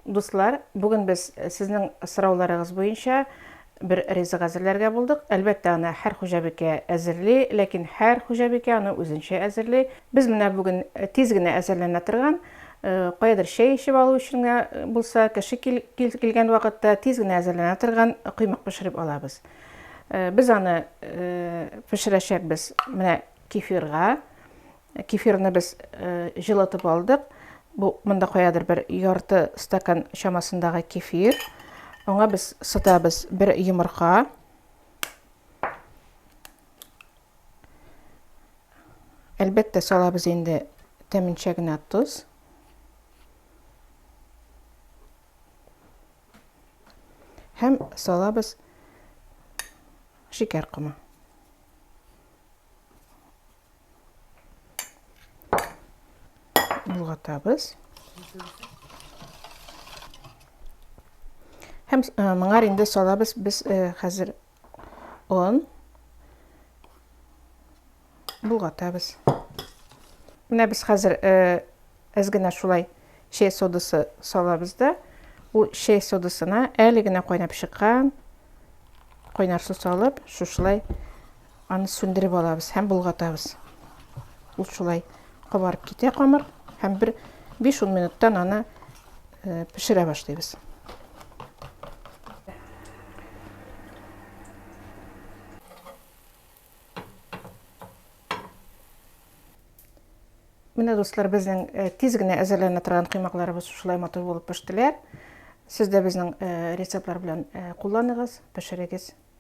Дуслар, бүген без сезнең сорауларыгыз буенча бер ризык әзерләргә булдык. Әлбәттә, аны һәр хуҗабикә әзерли, ләкин һәр хуҗабикә аны үзенчә әзерли. Без менә бүген тиз генә әзерләнә торган, каядыр чәй эчеп алу өчен генә булса, кеше килгән вакытта тиз генә әзерләнә торган коймак пешереп алабыз. Без аны пешерәчәкбез менә кефирга. Кефирны без җылытып алдык. Бу монда каядыр бер ярты стакан чамасындагы кефир. Аңа без сытабыз бер йомырка. Әлбәттә, салабыз инде тәменчә генә тоз. Һәм салабыз шикәр комы. Болгатабыз. Һәм э, моңа инде салабыз без э, хәзер он болгатабыз. Менә без хәзер э, Әз генә шулай чәй содасы салабыз да, ул чәй содасына әле генә кайнап чыккан кайнар су салып, шушылай аны сүндереп алабыз һәм болгатабыз. Ул шулай кабарып китә камыр һәм бер 5-10 минуттан аны э, пешерә башлыйбыз. Менә дуслар, безнең э, тиз генә әзерләнә торган коймакларыбыз шулай матур булып пештеләр. Сез дә безнең э, рецептлар белән э, кулланыгыз, пешерегез.